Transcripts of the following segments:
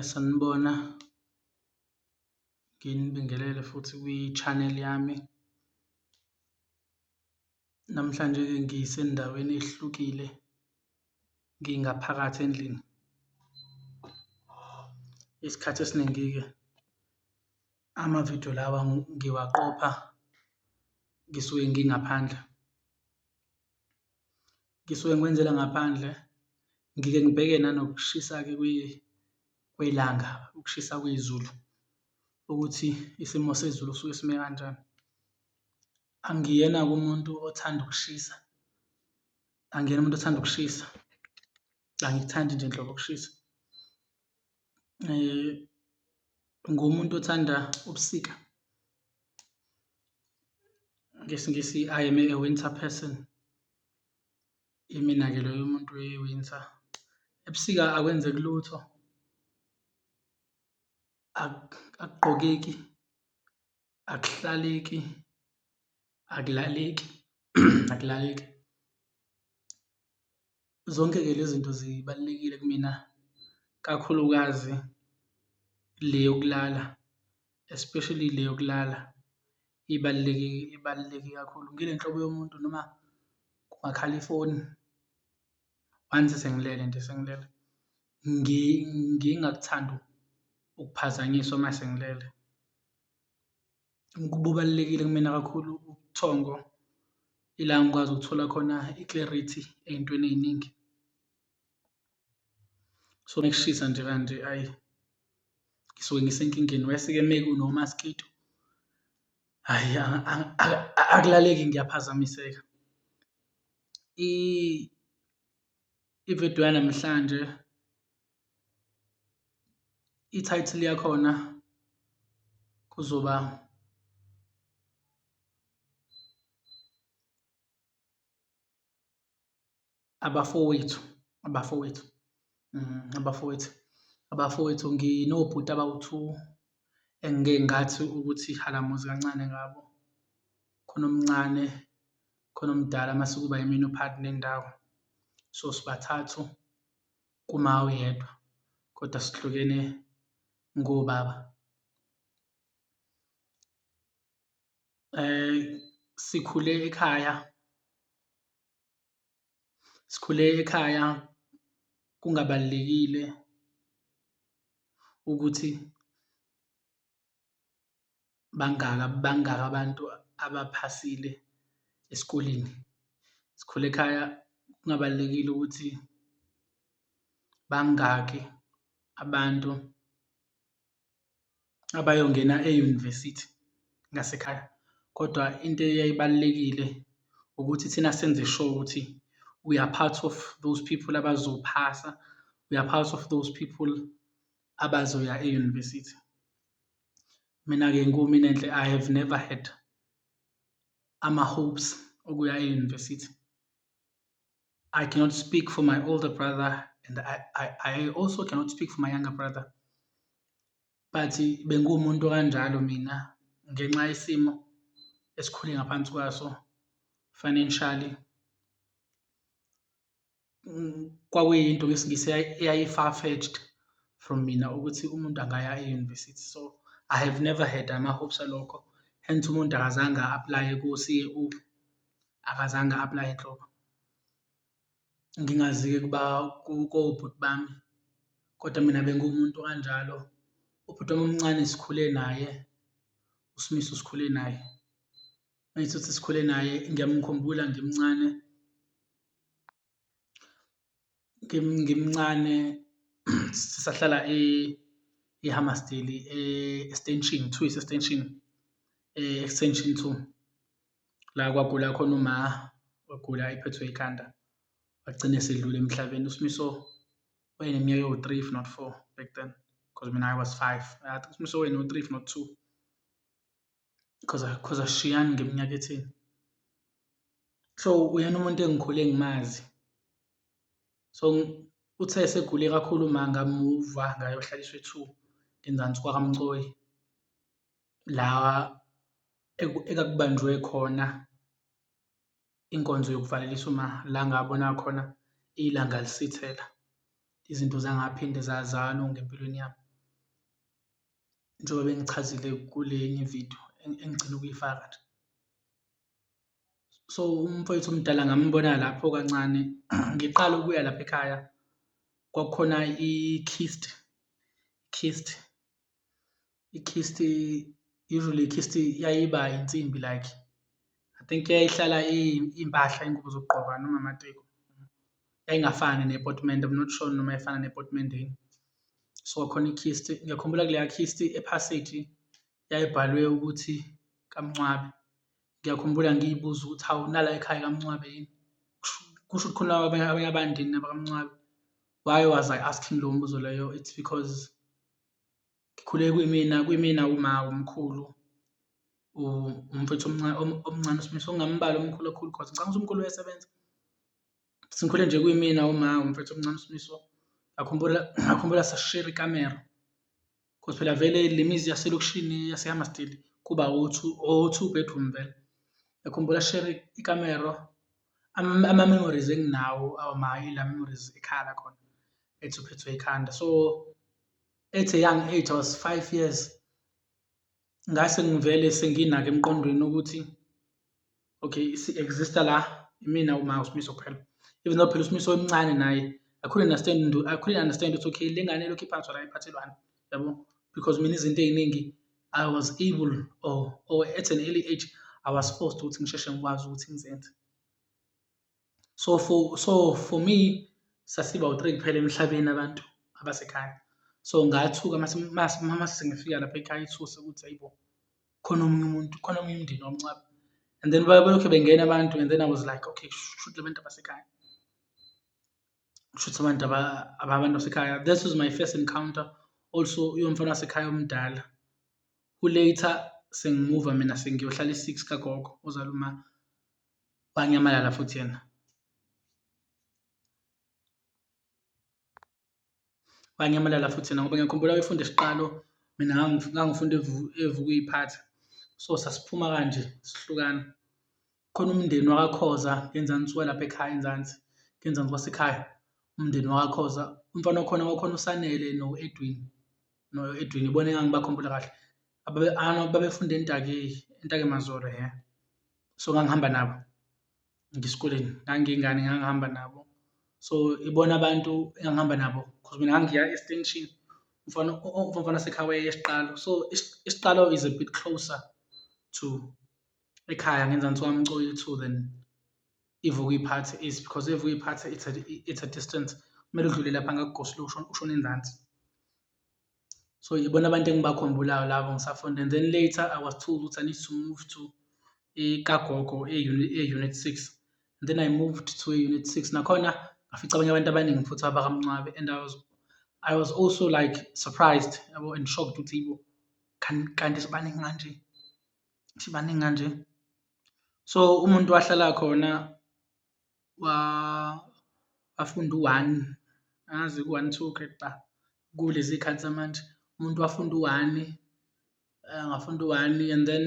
Sanibona, nginibingelele futhi kwi-channel yami. Namhlanje-ke ngisendaweni ehlukile, ngingaphakathi endlini. Isikhathi esiningi-ke amavidiyo lawa ngiwaqopha ngisuke ngingaphandle. ngisuke ngiwenzela ngaphandle ngike ngibheke nanokushisa-ke kwelanga ukushisa kwezulu ukuthi isimo sezulu suke sime kanjani. Angiyena-ke umuntu othanda ukushisa, angiyena umuntu othanda ukushisa, angikuthandi nje nhlobo ukushisa. ngumuntu othanda ubusika ngesingisi i am a winter person imina-ke loyo umuntu we-winter ebusika akwenzeki lutho akugqokeki akuhlaleki akulaleki akulaleki. Zonke-ke le zinto zibalulekile kumina kakhulukazi le yokulala, especially le yokulala ibaluleke ibaluleke kakhulu. Ngile nhlobo yomuntu noma kungakhal ifoni once sengilele nje sengilele ngingakuthandi ukuphazanyiswa uma sengilele. kubalulekile kumina kakhulu ubuthongo ila ngikwazi ukuthola khona i-clarity ey'ntweni ey'ningi. So uma kushisa nje kanje ayi ngisuke ngisenkingeni wesi-ke uma kunomaskito hhayi akulaleki ngiyaphazamiseka. I-video yanamhlanje. i-title yakhona kuzoba abafowethu abafowethu mm, abafowethu abafowethu nginobhuti abawu-two engike ngathi ukuthi halamuzi kancane ngabo khona omncane khona omdala mase kuba yimina uphathi nendawo so sibathathu kuma oyedwa kodwa sihlukene ngobaba eh sikhule ekhaya sikhule ekhaya kungabalulekile ukuthi bangaka bangaka abantu abaphasile esikoleni. Sikhule ekhaya kungabalulekile ukuthi bangaki abantu abayongena e-university ngasekhaya, kodwa into eyayibalulekile ukuthi thina senze sure ukuthi we are part of those people abazophasa, we are part of those people abazoya e-university. Mina-ke kuMinenhle I have never had ama-hopes okuya e-university. I cannot speak for my older brother and I, I, I also cannot speak for my younger brother. But bengiwumuntu okanjalo mina ngenxa yesimo esikhule ngaphansi kwaso financially. kwakuyinto ngesiNgisi eyayi-far-fetched from mina ukuthi umuntu angaya e-university so I have never had ama-hopes alokho, hence umuntu akazange a-aplaye ko-C_A_O, akazange a-aplaye nhlobo. Ngingazi-ke ukuba kobhuti bami kodwa mina bengiwumuntu okanjalo, ubhuti wami omncane sikhule naye, uSmiso sikhule naye. Ngithi uthi sikhule naye ngiyamkhumbula ngimncane ngimncane sisahlala e-Hammarsdale e-extension two ise-extension e-extension two la kwagula khona uma wagula ephethwe ikhanda wagcina esedlula emhlabeni uSmiso wayeneminyaka ewu-three if not four back then because mina I was five I think uSmiso wayengu-three if not two cause cause asishiyani ngeminyaka etheni so uyena umuntu engikhule ngimazi so uthe esegule kakhulu uma ngamuva ngayohlaliswa ethu ngenzansi kwakamcoyi la ekakubanjwe khona inkonzo yokuvalelisa uma la ngabona khona ilanga lisithela izinto zangaphinde zazalo ngempilweni yami njengoba bengichazile kule enye video engigcina ukuyifaka nje. So umfowethu omdala ngambona lapho kancane ngiqala ukuya lapha ekhaya kwakukhona i-kist kist i-kist usually i-kist yayiba insimbi like I think yayihlala impahla ingubo zokugqoka noma amateki. yayingafani nepotimende I'm not sure noma yayifana nepotimendeni so kwakhona i-kist ngiyakhumbula kuleya kist ephasage yayibhalwe ukuthi kaMncwabe ngiyakhumbula ngiyibuza ukuthi hawu nala ekhaya kaMncwabe yini kusho ukuthi khona abanye abanye abandini nabakaMncwabe why was I asking lowo mbuzo loyo it's because Ngikhule kwimina kwimina uma umkhulu umfethu omncane uSmiso ngingambali umkhulu kakhulu cause ngicabanga ukuthi umkhulu uyasebenza. Sikhule nje kwimina uma umfethu omncane uSmiso ngakhumbula ngakhumbula sasishera ikamero cause phela vele le mizi yaselokishini yaseHammarsdale kuba o-two o-two bedroom vele. Ngiyakhumbula sishere ikamero ama-memories enginawo awu ma ila memories ekhala khona ethi uphethwe ikhanda so at a young age I was five years ngase ngivele senginake emqondweni ukuthi okay si-exista la imina uma usimiso kuphela even though phela usimiso emncane naye I couldn't understand I couldn't understand ukuthi okay le ngane lokhu iphathwa la iphathelwani yabo because mina izinto ey'ningi I was able or or at an early age I was forced ukuthi ngisheshe ngikwazi ukuthi ngizenze. so for so for me sasiba u-three kuphela emhlabeni abantu abasekhaya so ngathuka mase sengifika lapha ekhaya ithuse ukuthi ayibo khona omunye umuntu khona omunye umndeni womncaba and then balokhe bengena abantu and then I was like okay shuthi abantu abasekhaya shuthi abantu abantu basekhaya this was my first encounter also uyomfana wasekhaya omdala who later sengimuva mina sengiyohlala i-six kagogo ozaluma wanyamalala futhi yena wanyamalala futhi yena ngoba ngiyakhumbula wayefunda isiqalo mina ngangifunda evukuyiphatha so sasiphuma kanje sihlukana khona umndeni wakakhoza ngenzansi walapha ekhaya enzansi ngenzansi wasekhaya umndeni wakakhoza umfana wakhona wakhona usanele no-edwin no-edwin ibona engangibakhumbula kahle Ababe ano babefunda eNtaki, eNtaki Mazore he. So ngangihamba nabo ngisikoleni, ngangiyingane ngangihamba nabo. So ibona abantu engangihamba nabo because mina ngangiya eStation umfana umfana wasekhaya wayeya eSiqalo. So iSiqalo is a bit closer to ekhaya ngenzansi kwaMcoyithu than iVukuyiphathe is because iVukuyiphathe it's a it's a distance, kumele udlule lapha ngakuGoslow ushone ushone enzansi. So yibona abantu engibakhumbulayo labo ngisafunda and then later I was told ukuthi I need to move to ikagogo e-unit six and then I moved to e-unit six nakhona ngafica abanye abantu abaningi futhi abakamncwabe and I was I was also like surprised yabo and shocked ukuthi yibo kanti sibaningi kanje sibaningi kanje so umuntu wahlala khona wafunda u-one, angazi ku-one, two grade ba, kulezi zikhathi zamanje. Umuntu wafunda u-one, angafunda u-one and then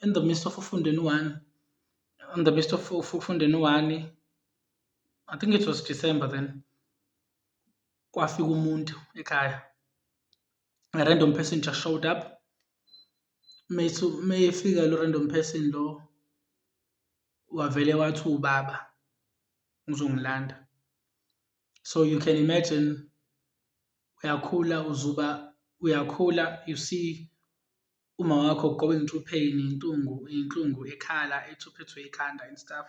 in the midst of ukufundeni u-one, in the midst of ukufundeni u-one, I think it was December then, kwafika umuntu ekhaya. a random person just showed up mesu mefika lo random person lo wavele wathi ubaba uzongilanda so you can imagine uyakhula uzuba uyakhula you see umawakho ugoba intupheni intungu inhlungu ekhala ethi uphethwe ikhanda and stuff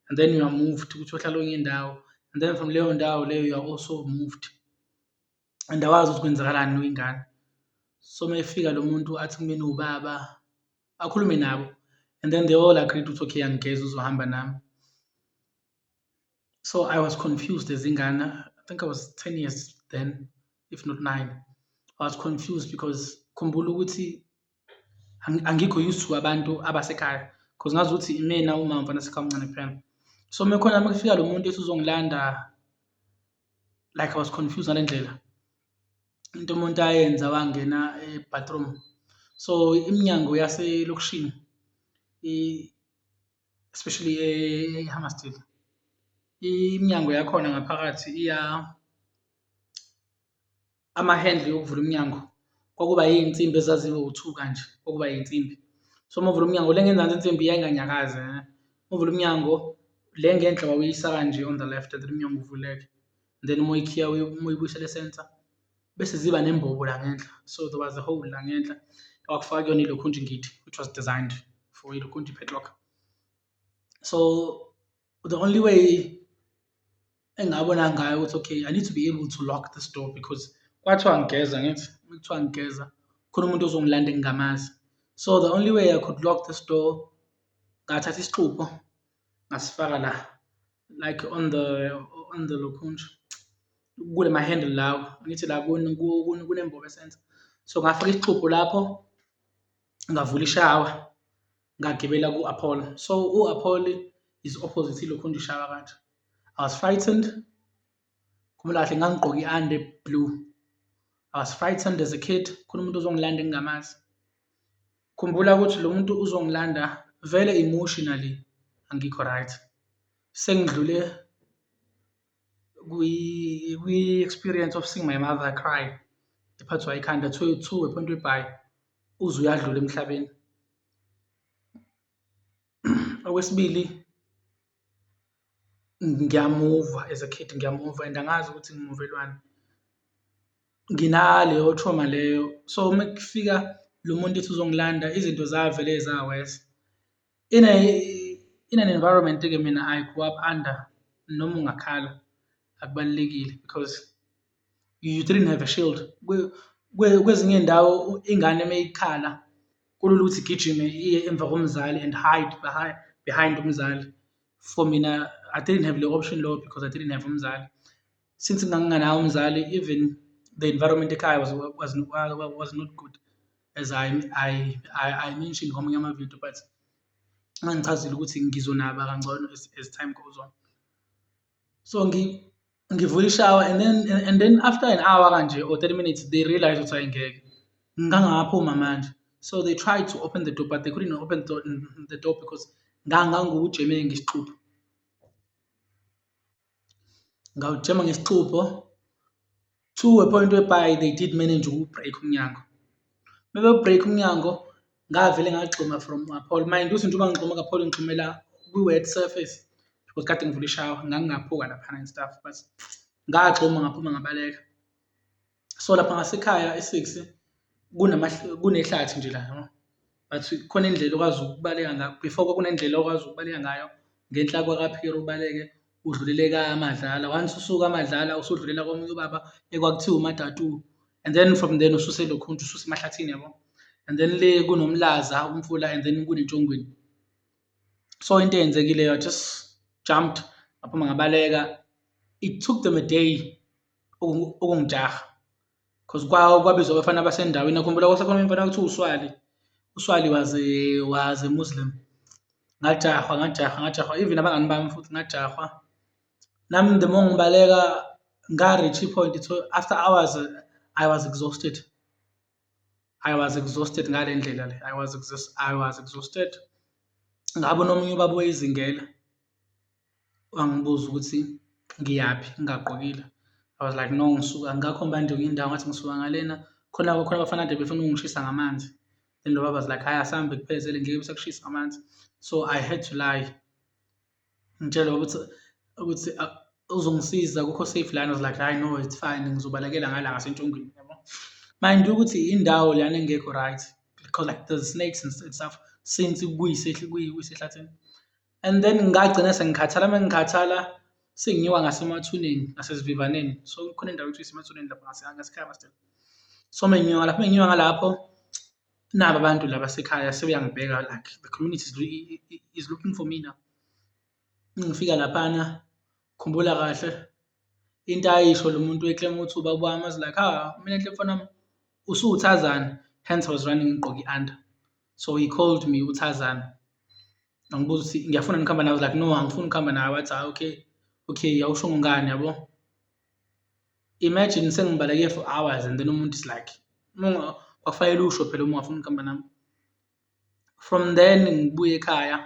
and then you are moved ukuthi uhlala onye indawo and then from leyo ndawo leyo you are also moved and awazi ukuthi kwenzakalani uyingane so uma efika lo muntu athi kumina ubaba akhulume nabo and then they all agreed ukuthi okay angigeza uzohamba nami so i was confused ezingane i think i was 10 years then if not 9 i was confused because khumbula ukuthi angikho used to abantu abasekhaya because ngazi ukuthi imina uma mfana sekhaya omncane kuphela so mekhona makufika lo muntu ethi uzongilanda like i was confused ngale ndlela into umuntu ayenza wangena e-bathroom so iminyango yaselokishini especially eHammarsdale iminyango yakhona ngaphakathi iya amahendle yokuvula umnyango kwakuba iy'nsimbi ezazibe u-two kanje kwakuba iy'nsimbi so uma uvula umnyango le ngenzansi insimbi yayinganyakazi eh. uma uvula umnyango le ngenhla wawuyisa kanje on the left and then umnyango uvuleke then uma uyikhiya uma uyibuyisela esensa bese ziba nembobo la ngenhla so there was a hole la ngenhla wakufaka kuyona ilokhunti ngithi which was designed for ilokhunti padlock so the only way engabona ngayo ukuthi okay i need to be able to lock this door because kwathiwa ngigeza ngithi kuthiwa ngigeza khona umuntu ozongilanda engingamazi so the only way i could lock this door ngathatha isixubho ngasifaka la like on the on the lokhunja kule ma-handle lawa ngithi la kunembobo esenza so ngafaka isixubhu lapho ngavula ishawa ngagibela ku-apollo so u-apollo is opposite ilokhunja ishawa kanje i was frightened khumula kahle ngangigqoke i-ande blue i was frightened as a kid khona umuntu ozongilanda engingamazi Khumbula ukuthi lo muntu uzongilanda vele emotionally angikho right sengidlule kwi-experience of seeing my mother cry ephathwa ikhanda two two ephonto ibhayi uze uyadlula emhlabeni okwesibili Ngiyamuva as a kid ngiyamuva and angazi ukuthi ngimuvelwani, nginaleyo trauma leyo so uma kufika lo muntu ethi uzongilanda izinto zavele za-worse. In a in an environment-ke mina I grew up under noma ungakhala akubalulekile cause. i-uterine have a shield kwezinye iy'ndawo ingane uma ikhala kulula ukuthi igijime iye emva komzali and hide behind behind umzali. For mina I didn't have leyo option leyo because I didn't have umzali. Since nganginganaye umzali even the environment ekhaya was was was not good as I I I, I mentioned komunye ama-video but ngangichazile ukuthi ngizonaba kangcono as as time goes on. so ngivula ishawa and then and then after an hour kanje or 30 minutes they realize ukuthi hayi ngeke ngangaphuma manje so they tried to open the door but they couldn't open the door, the door because ngangangujemile ngesixubho ngawujema ngesixubho To a point whereby they did manage uku-break umnyango. Uma bewu-break umnyango, ngavele ngagxuma from kapholo. Mind ukuthi njengoba ngigxuma kapholo ngigxumela kwi-wet surface because kade ngivula ishawa, ngangingaphuka laphana and stuff but ngagxuma ngaphuma ngabaleka. So lapha ngasekhaya e-six kunehlathi nje la yabo, but khona indlela okwazi ukubaleka ngayo, before kwakunendlela okwazi ukubaleka ngayo ngenhla kwaka-pier ubaleke. udluleleka amadlala once usuka amadlala usudlulela komunye ubaba ekwakuthiwa umatatu and then from then ususe lokhuntu ususe emahlathini yabo and then le kunomlaza umfula and then kunentshongweni so into eyenzekileyo i just jumped ngaphuma ngabaleka it took them a day ukungijaha Cause kwa kwabizwa abafana basendaweni nakhumbula kwasekhona umfana kuthiwa uSwali. USwali was a was a Muslim. Ngajahwa ngajahwa ngajahwa even abangani bami futhi ngajahwa. Nami the more ngibaleka nga reach point so after hours I was exhausted. I was exhausted ngale ndlela le I was I was exhausted. Ngabona omunye ubaba oyizingela. wangibuza ukuthi ngiyaphi ngingagqokile. I was like no ngisuka ngakho manje ngenye indawo ngathi ngisuka ngalena, khona khona abafana kade befuna ukungishisa ngamanzi and lo baba was like hhayi asambe kuphezele ngeke besakushisa ngamanzi. So I had to lie, ngitshele ukuthi ukuthi uzongisiza akukho safe lana, I was like hhayi no it's fine ngizobalekela ngala ngasentshongweni yabo. Mind you ukuthi indawo lana engekho right because like there's snakes and stuff since kuyisehlathini. and then ngagcina sengikhathala uma ngikhathala senginyuka ngasemathuneni nasezivivaneni so kukhona indawo ekuthiwa isemathuneni lapho ngasekhaya master so menginyuka lapho menginyuka ngalapho nabo abantu laba sekhaya sebeyangibheka like the community is looking for me now ngifika laphana khumbula kahle into ayisho lo muntu eklema ukuthi ubaba wami azi like ha ah, mina nhle mfana wami usuwuthazana hence I was running ngigqoke i-under so he called me uthazana angibuza ukuthi ngiyafuna ngikhamba nawe like no angifuni ukuhamba nawe wathi hayi okay okay awusho ngani yabo imagine sengibaleke for hours and then umuntu is like kwakufanele usho phela uma ungafuni ukuhamba nami from then ngibuye ekhaya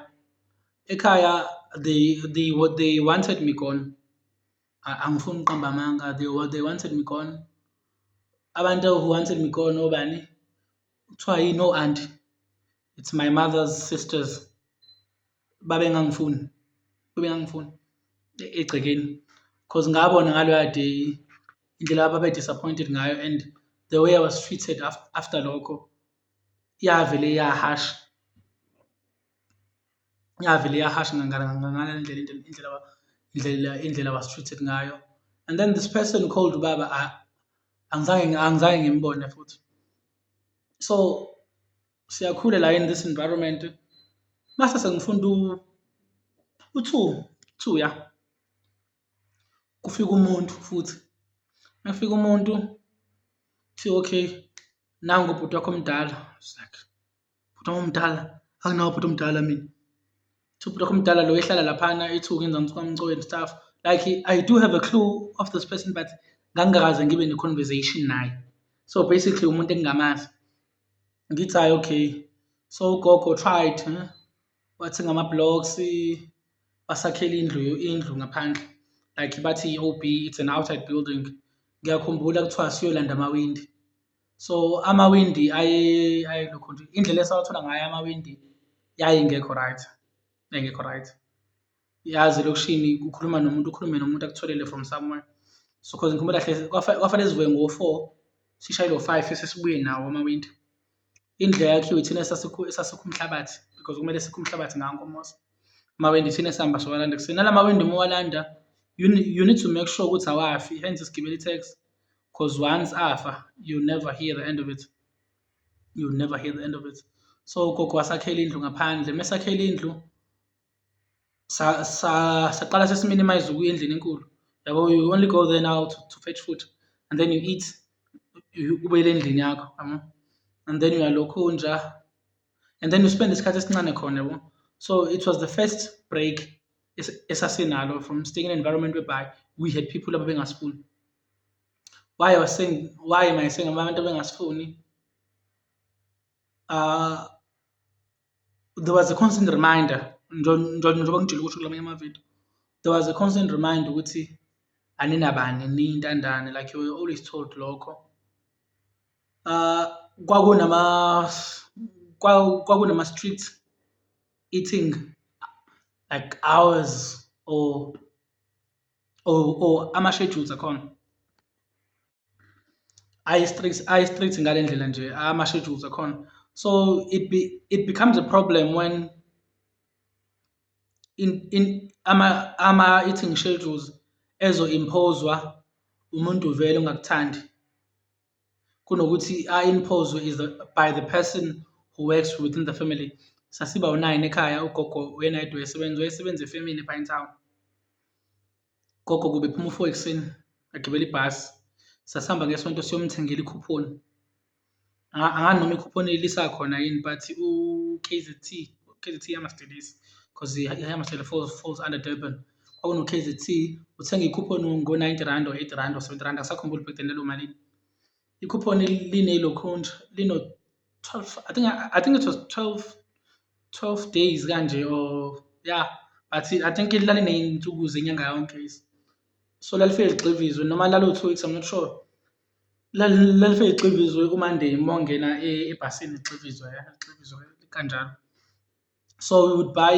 ekhaya they they what they wanted me gone angifuni ukuqamba amanga they what they wanted me gone abantu who wanted me gone obani kuthiwa yini o anti it's my mother's sisters babengangifuni babengangifuni egcekeni because ngabona ngaloya day indlela ababe disappointed ngayo and the way i was treated after lokho yavele yahasha. Yavele yahasha ngangale ndlela indlela indlela indlela was treated ngayo and then this person called ubaba angizange angizange ngimbone futhi. So siyakhula la in this environment mase sengifunda u-two two ya kufika umuntu futhi mekufika umuntu kuthiwa okay nangu ubhuti wakho omdala I was like. bhuti omdala anginawo bhuti omdala mina so bhuti wakho omdala lo ehlala laphana ethuka enza umswamco and stuff like i do have a clue of this person but ngangikaze ngibe ne-conversation naye so basically umuntu engingamazi ngithi hayi okay so ugogo tried huh? wathenga ama-blocks basakhela indlu indlu ngaphandle like bathi i-OB it's an outside building ngiyakhumbula kuthiwa siyolanda amawindi. So amawindi ayelokhu nje indlela esawathola ngayo amawindi yayingekho right, yayingekho right. Yazi elokishini ukhuluma nomuntu ukhulume nomuntu akutholele from somewhere. So cause ngikhumbula hle kwafanele sivuke ngo-four sishayele ngo-five sesibuye nawo amawindi. Indlela yakhiwe ithina esasikha umhlabathi because kumele sikhe umhlabathi ngawo komosi. Amawindi ithina esihamba siwalanda ekuseni, nala mawindi uma uwalanda you need to make sure ukuthi awafi hence sigibela i-taxi. cause once afa you never hear the end of it you never hear the end of it so ugogo wasakhela indlu ngaphandle mesakhela indlu sa sa saqala sesiminimize ukuya endlini enkulu yabo you only go there now to, to fetch food and then you eat ubuyele endlini yakho yabo and then uyalokhu nja and then you spend isikhathi esincane khona yabo so it was the first break esasinalo from staying in an environment whereby we had people ababengasifuni Why was saying why am I saying abantu bengasifuni? Uh there was a constant reminder njengoba ngijule ukuthi kulamanye amavidiyo there was a constant reminder ukuthi aninabani niyintandane like you were always told lokho uh kwakunama kwakunama street eating like hours or or or ama schedules akhona ayi strict ayi strict ngalendlela nje ama schedules akhona so it be it becomes a problem when in in ama ama eating schedules ezo imposwa umuntu vele ongakuthandi kunokuthi a-imposwe is the, by the person who works within the family sasiba u-nine ekhaya ugogo uyena yedwa esebenza wayesebenza efemini epine town gogo kube phuma ufo ekuseni agibele ibhasi sasihamba ngesonto siyomthengela ikhuphoni angani noma ikhuphoni lisakhona yini but u-k z t k z t yamastelisi because iyamasela falls, falls under durban kwakuno-K_Z_C uthenge i-coupon ngo-ninety rand or eighty rand or seventy rand angisakhumbuli back then lalomalini. I-coupon linelokhunja lino-twelve I think I think it was twelve twelve days kanje or ya but I think laliney'nsuku zenyanga yonke so lalifike ligxivizwe noma lalo-two weeks I'm not sure. Lalifike ligxivizwe uManday uma ungena ebhasini ligxivizwe ligxivizwe kanjalo. So we would buy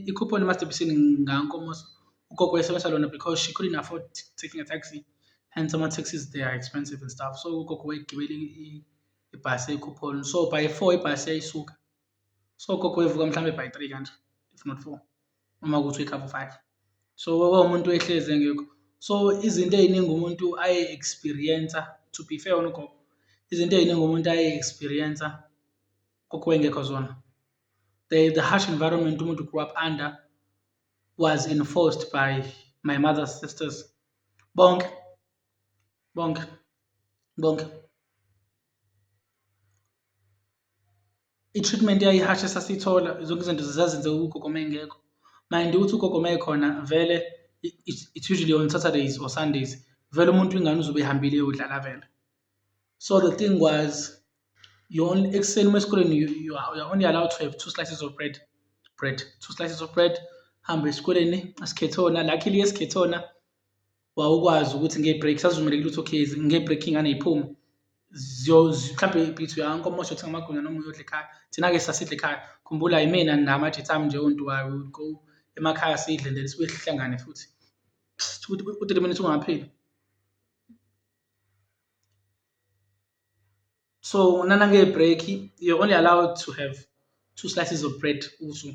i-coupon eMasterBisini ngankomoso ugogo wayesebenzisa lona because she couldn't afford taking a taxi and some taxis they are expensive and stuff so ugogo wayegibele ibhasi eyi-coupon so by four ibhasi yayisuka so ugogo wayevuka mhlawumbe by three kanje if not four uma kuthi uyikhava five so kwawumuntu ehlezi engekho so izinto ey'ningi umuntu aye-experience-a to be fair on ugogo izinto ey'ningi umuntu aye-experience-a kukho wayengekho zona the, the harsh environment umuntu grew up under was enforced by my mother's sisters bonke bonke bonke i-treatment yayihashe sasiyithola zonke izinto zazenze ugogo uma engekho mind ukuthi ugogo uma ekhona vele it's usually on saturdays or sundays vele umuntu ingane uzobe ehambile yodlala vele so the thing was you only ekuseni uma esikoleni you, you are only allowed to have two slices of bread bread two slices of bread hamba esikoleni asikhethona luckily esikhethona wawukwazi ukuthi nge-break sazivumele ukuthi okay nge-break ingane iphume mhlawumbe ibhithi uyanka uma usho uthenga amagwinya noma uyodla ekhaya thina-ke sasidla ekhaya khumbula yimina namajethi ami nje ontu wayo would go emakhaya sidle then sibuye sihlangane futhi u-three minutes ungapheli so nana nge-break you're only allowed to have two slices of bread usu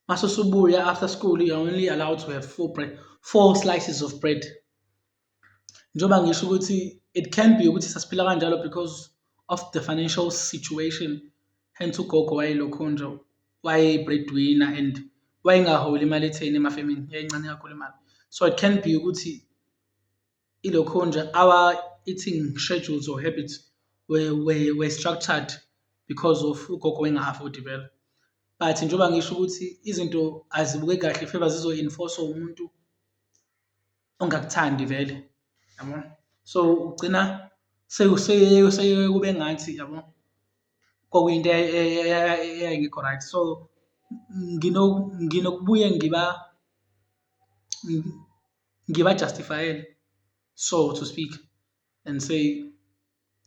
mase usubuya after school you're only allowed to have four bread four slices of bread njengoba ngisho ukuthi it can be ukuthi sasiphila kanjalo because of the financial situation hence ugogo wayelokho nje wayeyi-breadwinner and wayengaholi imali etheni emafemini yayincane kakhulu imali so it can be ukuthi ilokho nje our eating schedules or habits were, were, were structured because of ugogo enga-afford vele but njengoba ngisho ukuthi izinto azibuke kahle feba zizo-enforce umuntu ongakuthandi vele yabo so ugcina sekube ngathi yabo kwakuyinto eyayingekho right so nginokubuye ngiba ngibajustifayele so to speak and say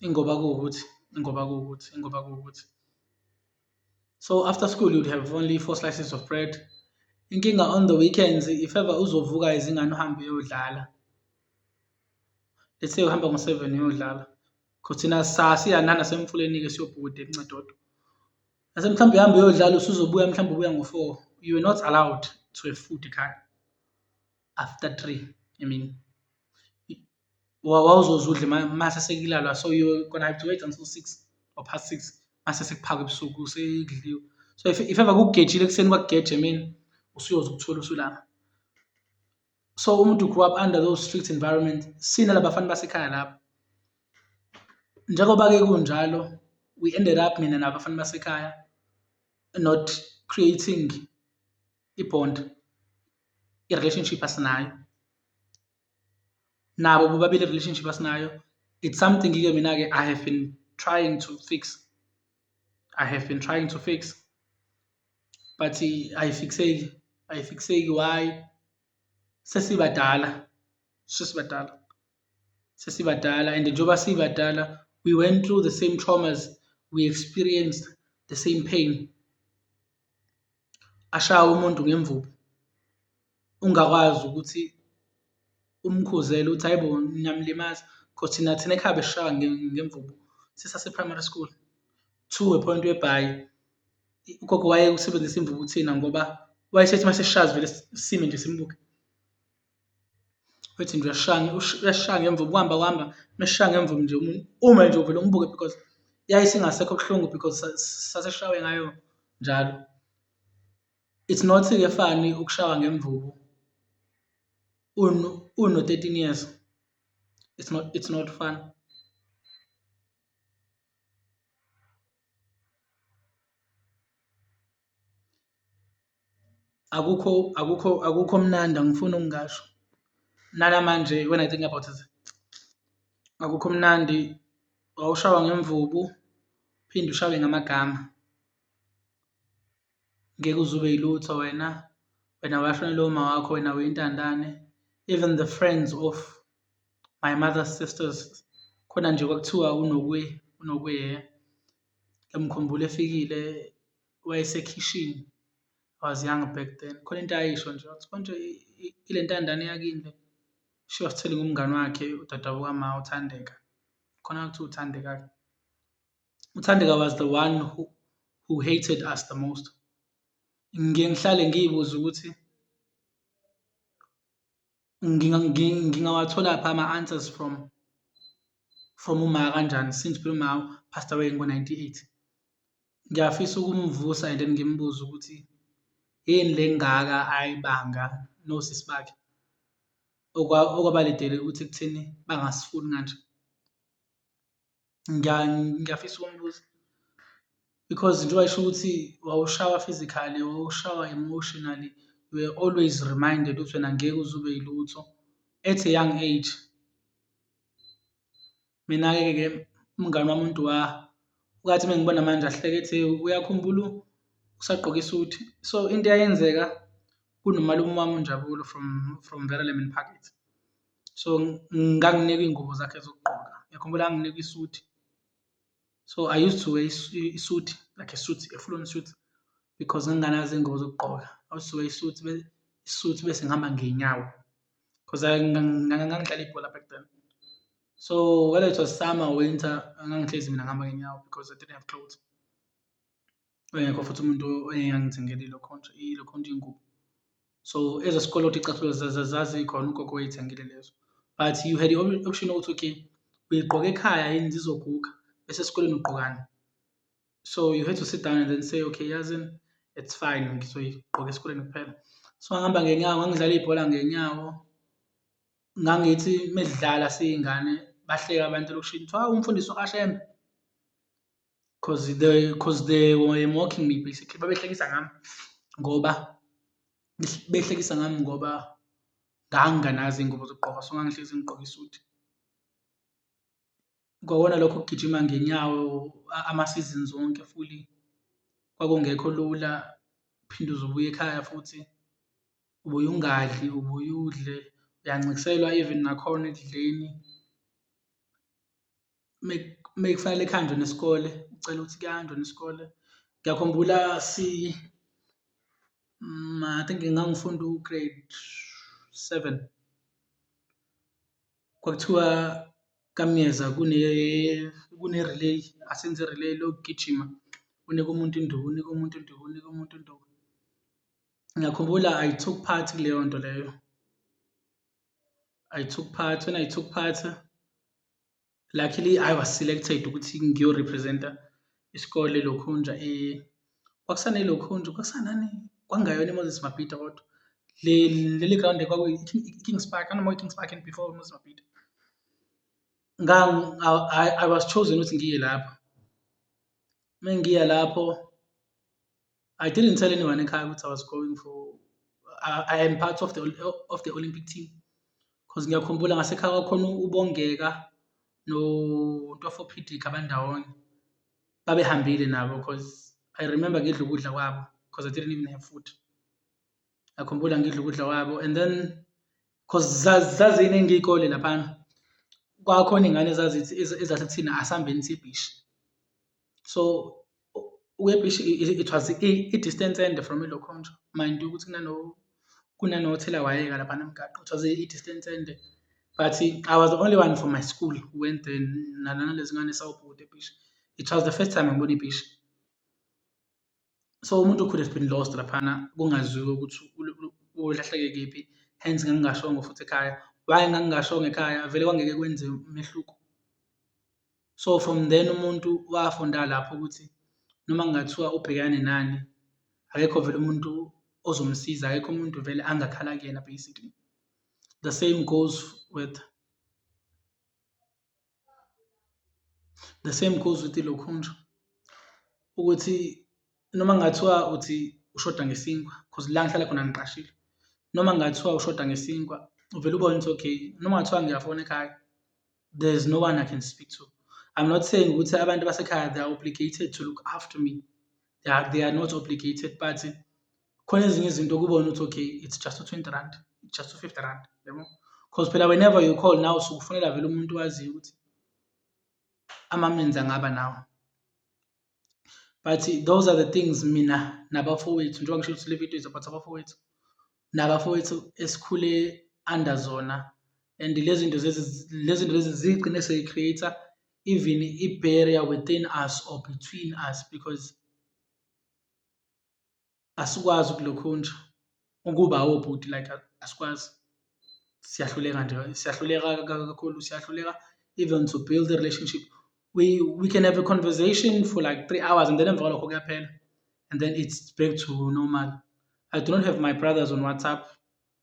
ingoba kuwukuthi ingoba kuwukuthi ingoba kuwukuthi so after school you'd have only four slices of bread inkinga on the weekends if ever uzovuka izingane uhambe uyodlala let's say uhamba ngo-seven uyodlala because thina sasiyanana semfuleni-ke siyobhukuda ekuncedodo nase mhlawumbe uhambe uyodlala usuzobuya mhlawumbe ubuya ngo-four you were not allowed to have food ekhaya after three i mean wawuzoze udle mase sekulalwa so you gonna have to wait until six or past six mase sekuphakwa ebusuku sekudliwe so if, if ever kugejile ekuseni kwakugeje emini usuyoze ukuthola usulama so umuntu grew up under those strict environment sina labafana basekhaya lapho njengoba-ke kunjalo we ended up mina nabafana basekhaya not creating i-bond i-relationship asinayo nabo bobabili i-relationship asinayo it's something ke mina ke i have been trying to fix i have been trying to fix but ayifixeki ayifixeki why sesibadala sesibadala sesibadala and njengoba sibadala we went through the same traumas we experienced the same pain ashawe umuntu ngemvubu ungakwazi ukuthi umkhuzele ukuthi hhayi bo niyamlimaza cause thina thina ekhaya besishaywa ngemvubu sisase-primary school to a point whereby ugogo wayewusebenzisa imvubu kuthina ngoba wayesethi uma sesishawa sivele sime nje simbuke. Uthi nje uyashaya uyashaya ngemva ukuhamba kuhamba mesishaye ngemva nje ume nje uvele umbuke because yaye singasekho kubuhlungu because saseshawe ngayo njalo. It's not kuyafana ukushawa ngemvubu uno-thirteen years, it's not it's not fun. Akukho akukho akukho mnandi angifuni ukungasho nanamanje when I think about it akukho mnandi, wawushawa ngemvubu uphinde ushawe ngamagama. Ngeke uze ube yilutho wena, wena washonelwa umawakho, wena uyintandane even the friends of my mother's sisters khona nje kwakuthiwa uNokwe uNokwe Ngiyamkhumbula efikile wayesekhishini I was young back then, khona into ayisho nje wathi konje ile ntandane yakini le, she was telling umngani wakhe udadewabo kama uThandeka, khona kuthiwa uThandeka-ke. UThandeka was the one who who hated us the most. Ngiye ngihlale ngiy'buze ukuthi Ngingawatholaphi ama-answers from from uMa kanjani since phela uMa u-passed away ngo-ninety eight? Ngiyafisa ukumvusa and then ngimbuze ukuthi yini le engaka ayibanga nosisi bakhe okwaba lidele ukuthi ekutheni bangasifuni kanje. Ngiyafisa ukumbuza because njengoba esho ukuthi wawushawa physically, wawushawa emotionally, you were always reminded ukuthi wena ngeke uze ube yilutho at a young age. Mina-ke ke umngani wami uNdwa wathi uma engibona manje ahleke ethi uyakhumbula usagqoke isuthi. So into eyayenzeka kunomalume wami uNjabulo from from Verelemen Park. so nganginikwa iy'ngubo zakhe zokugqoka yakhumbula anginikwa isuthi so i used to wear isuthi like a suit a full on suit because nginganazo iy'ngubo zokugqoka i used to wear isuthi isuthi bese ngihamba ngey'nyawo because ngangidlala ibhola back then so whether it was summer or winter ngangihlezi mina ngihamba ngey'nyawo because i didn't have clothes Engekho futhi umuntu engangithengela ilo khonto ilo khonto ingubo. So ezesikoloto icathulo zazikhona ugogo wayethengile lezo. But you had the option ukuthi okay uyigqoka ekhaya yini zizoguga bese esikoleni ugqokani. So you had to sit down and then say okay yazini it's fine ngizoyigqoka esikoleni kuphela. So ngangihamba ngenyawo ngangidlala ibhola ngenyawo. Ngangithi uma sidlala siyingane bahleka abantu elokishini kuthiwa hawu umfundisi uKashembe. Cause they, cause they were mocking me basically. Babehlekisa ngami ngoba behlekisa ngami ngoba nganginganazi iy'ngubo zokugqoka so ngangihlezi ngigqoke isuthi. Kwakona lokho kugijima ngenyawo ama-seasons wonke fully kwakungekho lula, uphinde uze ubuye ekhaya futhi ubuye ungadli, ubuye udle, uyancikselwa even nakhona ekudleni. mekufanele kuhanjwe nesikole, ucela ukuthi kuyahanjwa nesikole. Ngiyakhumbula si, I think ngangifunda u-grade seven, kwakuthiwa kaMyeza kune, kune-relay, asenze i-relay lokugijima, unike umuntu induku, unike umuntu induku, unike umuntu induku. Ngiyakhumbula I took part kuleyo nto leyo, I took part, when I took part. luckily I was selected ukuthi ngiyorepresenta isikole Lokhunja eh, kwakusane Lokhunja kwakusanani kwangayona iMoses Mabhida kodwa leli ground kwakuyi-Kings Park anoma i-Kings Park and before iMoses Mabhida I was chosen ukuthi ngiye lapho uma ngiya lapho I didn't tell anyone in Kai I was going for. I, I am part of the of the Olympic team because ngiyakhumbula ngasekhaya kwakhona ubongeka no ntwafo pdk abandawonye babehambile nabo because i remember ngidla ukudla kwabo because i didn't even have food ngiyakhumbula ngidla ukudla kwabo and then because zaziningi iy'kole laphana kwakhona iy'ngane ezazithi ezathi kuthina asihambeni sibhishe So uKepishi it was i-distance ende from iLokhonjwa mind you ukuthi kunanothelawayeka laphana emgaqo, it was i-distance ende but I was the only one from my school who went there nalana lezingane sawubhuti eBhishi. It was the first time ngibona iBhishi. So umuntu could have been lost laphana kungaziwa ukuthi ulahleke kephi, hence ngangingashongo futhi ekhaya. Why ngangingashongo ekhaya? Vele kwangeke kwenze umehluko. So from then umuntu wafunda lapho ukuthi noma kungathiwa ubhekane nani, akekho vele umuntu ozomsiza, akekho umuntu vele angakhala kuyena basically. The same goes with The same goes with ilokhunja ukuthi noma kungathiwa uthi ushoda ngesinkwa because la ngihlala khona ngiqashile noma kungathiwa ushoda ngesinkwa uvele ubone ukuthi okay noma kungathiwa ngiyafona ekhaya there's no one I can speak to I'm not saying ukuthi abantu basekhaya they are obligated to look after me they are, they are not obligated but khona ezinye izinto kubona ukuthi okay it's just u-20 rand it's just u-50 rand yabo because phela whenever you call now sukufonela vele umuntu waziyo ukuthi amamenzi angaba nawo but those are the things mina nabafowethu njengoba ngisho ukuthi le video is about abafowethu nabafowethu esikhule under zona and lezi zinto lezi zinto lezi zigcine seyi-create-a even i-barrier within us or between us because asikwazi ukulokhunja ukuba obhuti like asikwazi siyahluleka nje siyahluleka kakhulu siyahluleka even to build a relationship we we can have a conversation for like three hours and then emva kwalokho kuyaphela and then it's back to normal i do not have my brothers on whatsapp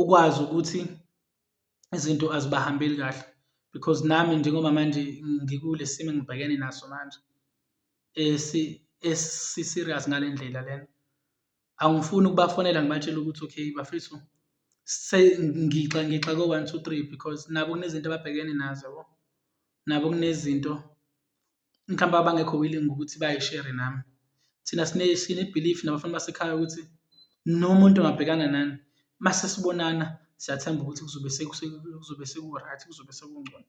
ukwazi ukuthi izinto azibahambeli kahle because nami njengoba manje ngikule simo engibhekene naso manje esi-serious ngale ndlela lena. Angifuni ukubafonela ngibatshele ukuthi okay bafethu ngixakwe one, two, three because nabo kunezinto ababhekene nazo yabo, nabo kunezinto. mhlawumbe abangekho willing ukuthi bayishere nami. Thina sine-belief nabafana basekhaya ukuthi noma umuntu engabhekana nani, uma sesibonana siyathemba ukuthi kuzobe kuzobe seku-right, kuzobe sekungcono.